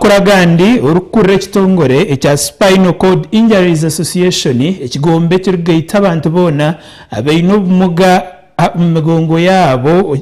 Amakuru agandi, orikukurira ekitongore ekya Spinal Cord Injuries Association, ekigombe ekirikugaita abantu boona abaine obumuga omu migongo yaabo,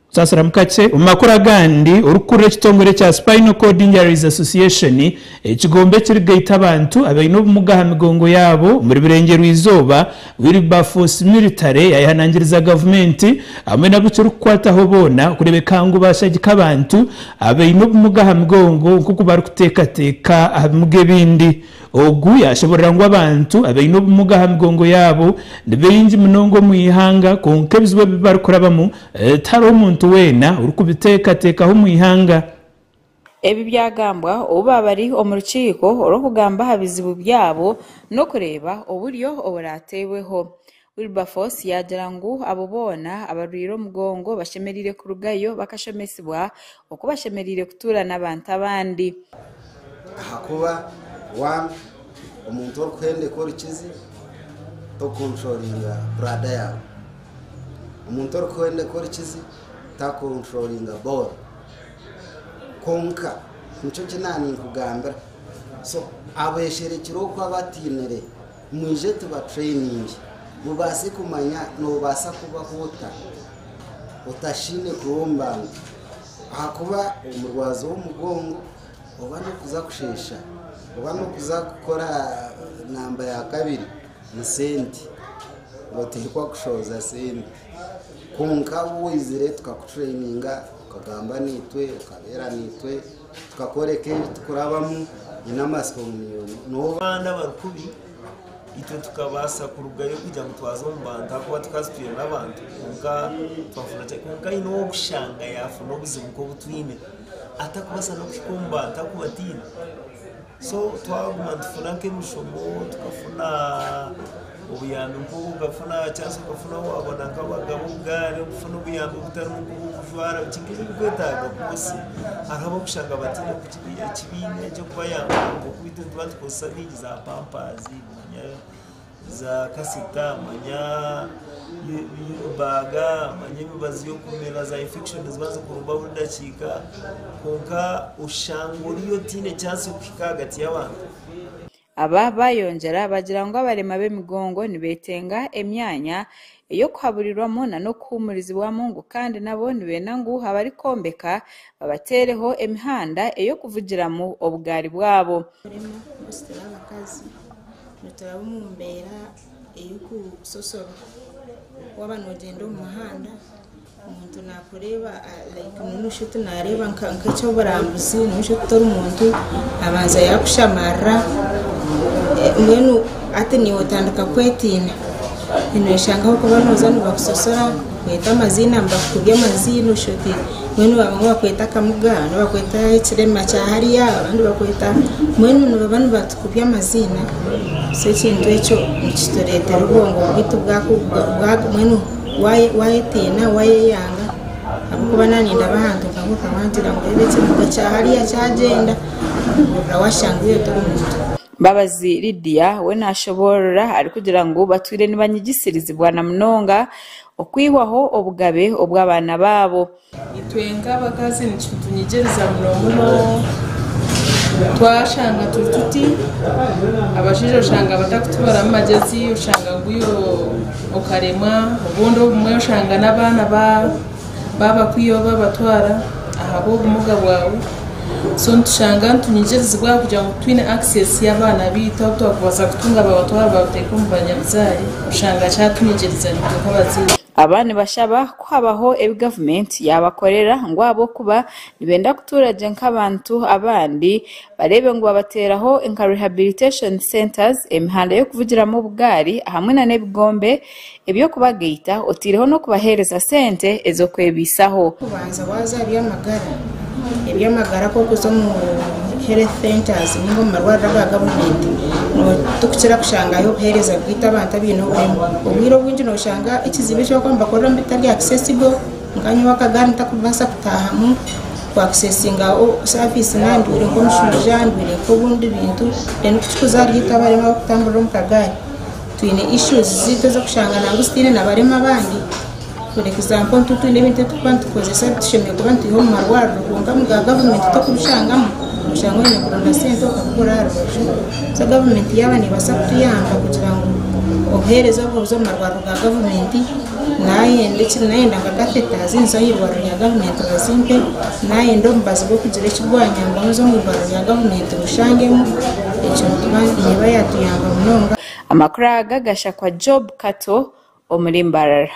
Saasiramu kakye. Omu makuru agandi, orikukurira ekitongore ekya Spinal Cord Injuries Association, ekigombe ekirikugaita abantu abaine obumuga aha migongo yaabo omuri Burengyerwa-izooba, Wilberforce Military yayehanangiriza gavumenti hamwe n'abu kirikukwataho boona kureebeka ngu baashagika abantu abaine obumuga aha migongo nk'oku barikuteekateeka aha bimuga ebindi. Ogu yaashoboorora ngu abantu abaine obumuga aha migongo yaabo ni baingi munonga omu ihanga kwonka ebizibu ebi barikurabamu tihariho muntu weena orikubiteekateekaho omu ihanga. Ebi byagambwa obu baabari omu rukiiko orw'okugamba aha bizibu byabo n'okureeba oburyo oburaateebweho. Wilberforce yaagira ngu abo boona abarwaire omugongo bashemereire kurugayo bakashomesibwa oku bashemereire kutuura n'abantu abandi. Ahakuba waaba omuntu orikuhendeka orukizi, tokukonturoringa buraada yaawe. Omuntu orikuhendeka orukizi takukonturoringa booro. Kwonka nikyo ki naaninkugambira, so abesherekire oku abatainire, mwije tubatraininge, mubaase kumanya noobaasa kubaho ota otashaine kuromba ngu ahakuba omurwazo w'omugongo oba n'okuza kusheesha oba n'okuza kukora namba ya kabiri ni sente, otihikwa kushooza sente. Kwonka waaba oizire tukakutureyininga, okagamba naitwe, okabeera naitwe, tukakworeka ebi turikurabamu. Nyine amatsiko ngu niiwe ogu. Noba abaana abarikubi, itwe tukabaasa kurugayo kugira ngu twaza omu bantu ahakuba tukaba tutaine abantu. Kwonka twafuna chance. Kwonka haine ow'okushanga yaafuna obuzibu nk'obu twine, atakubaasa n'okuhika omu bantu ahakuba ataine. So twaguma nitufuna nk'emishomo tukafuna obuyambi nk'obu okafuna chance okafuna waabona nk'abagaba obugaari okufuna obuyambi obutari bumwe nk'obw'okujwara biki nk'ebi ebirikwetaaga kwonsi hariho ab'okushanga bataine ekibiina eky'okubayamba nk'oku itwe nituba nitukozesa bingi za pampaazi za kasita manya baga manya emibazi y'okumera za infection ziba zikurumba buri dakiika kwonka oshanga ori otaine chance y'okuhika ahagati y'abantu Aba baayongyera bagira ngu abarema b'emigongo nibeetenga emyanya ey'okuhaburirwamu na n'okuhuumurizibwamu ngu kandi nabo nibeenda ngu abarikwombeka babateereho emihanda ey'okuvugiramu obugaari bwabo. Kurema kumusitira abakazi nituraba omu mbeera ey'okusosorwa waaba noogyenda omu muhanda Omuntu nakureeba like nono shi oti nareeba nkekyoburambuzi nono shi oti tori muntu abanza yakushamarira mbwenu hati niwe otandika kwetiina noshanga ahabwokuba noza nibakusosora nibakweta amaziina nibakukubya amaziina shi oti mbwenu bamwe nibakweta akamuga abandi nibakweta ekirema kya hariya abandi nibakweta mbwenu nibaba nibatukubya amaziina so ekintu ekyo nikituretera obwongo bwaitu bwaku bwa mbwenu Waayetiina, waayeyaanga, ahabw'okuba naanye ndaba ahantu nkaho okangira ngu reeba ekimotoka kya hariya kyagyenda, hurira waashangire tori muntu. Mbabazi Lydia we naashoboorora arikugira ngu batwire nibanyigisirizibwa na munonga okwihwaho obugabe obw'abaana baabo. Itwe nk'abakazi nikitunyigiriza muno muno twashanga turi tuti, abashaija oshanga batakutubaramu magyezi oshanga ngu iwe okaremwa, obundi obumwe oshanga n'abaana babakwiha oba babatwara ahabw'obumuga bwawe, so nitushanga nitunyigirizibwa ahabw'okugira ngu twine access y'abaana baitu abu twakubaasa kutunga babatwara babateeka omu banyabuzaare, oshanga kyatunyigiriza itwe nk'abazaire. Aba nibashaba ku habaho ebi gavumenti yaabakorera ngu ahabw'okuba nibenda kutuura gye nk'abantu abandi bareebe ngu babateeraho nka Rehabilitation Centres, emihanda y'okuvugiramu obugaari ahamwe nana ebigombe eby'okubagaita oteireho n'okubahereza sente ez'okwebaisaho. Kubanza waaza ahaby'amagara eby'amagara kw'okuza omu health centres ninga omu marwariro aga gavumenti tikukira kushangayo obuhereza bwaitu abantu abaine oburemu obwire obwingi noshanga ekizibu eki bakuba nibakoreramu bitari accessible nka nyowe akagari ntakubaasa kutahamu ku accessinga service naaba ndwaire nk'omushaija ndwaire nk'obundi bintu then kukikuza ahari itwe abarema abarikutamburira omu kagaari twine issues zaitu ez'okushanga ngu zitiine nabarema abandi. For example nituba twine ebintu ebi turikuba nitukozesa ebi tushemereire kuba nitwiha omu marwariro kwonka mu ga gavumenti tokubishangamu, noshanga oyine kuronda sente okabikora aha rubaju. So gavumenti yaaba nebaasa kutuyamba kugira ngu obuhereza obu buza omu marwariro ga gavumenti nayenda eki nayenda nka catheter zinzise aha irwariro rya gavumenti bazimpe, nayenda omubazi gw'okugira eki gwanyamba ngu nze omu irwariro rya gavumenti ngushangemu, ekyo nituba neeba yatuyamba munonga. Amakuru aga gashakwa Job Kato omuri Mbarara.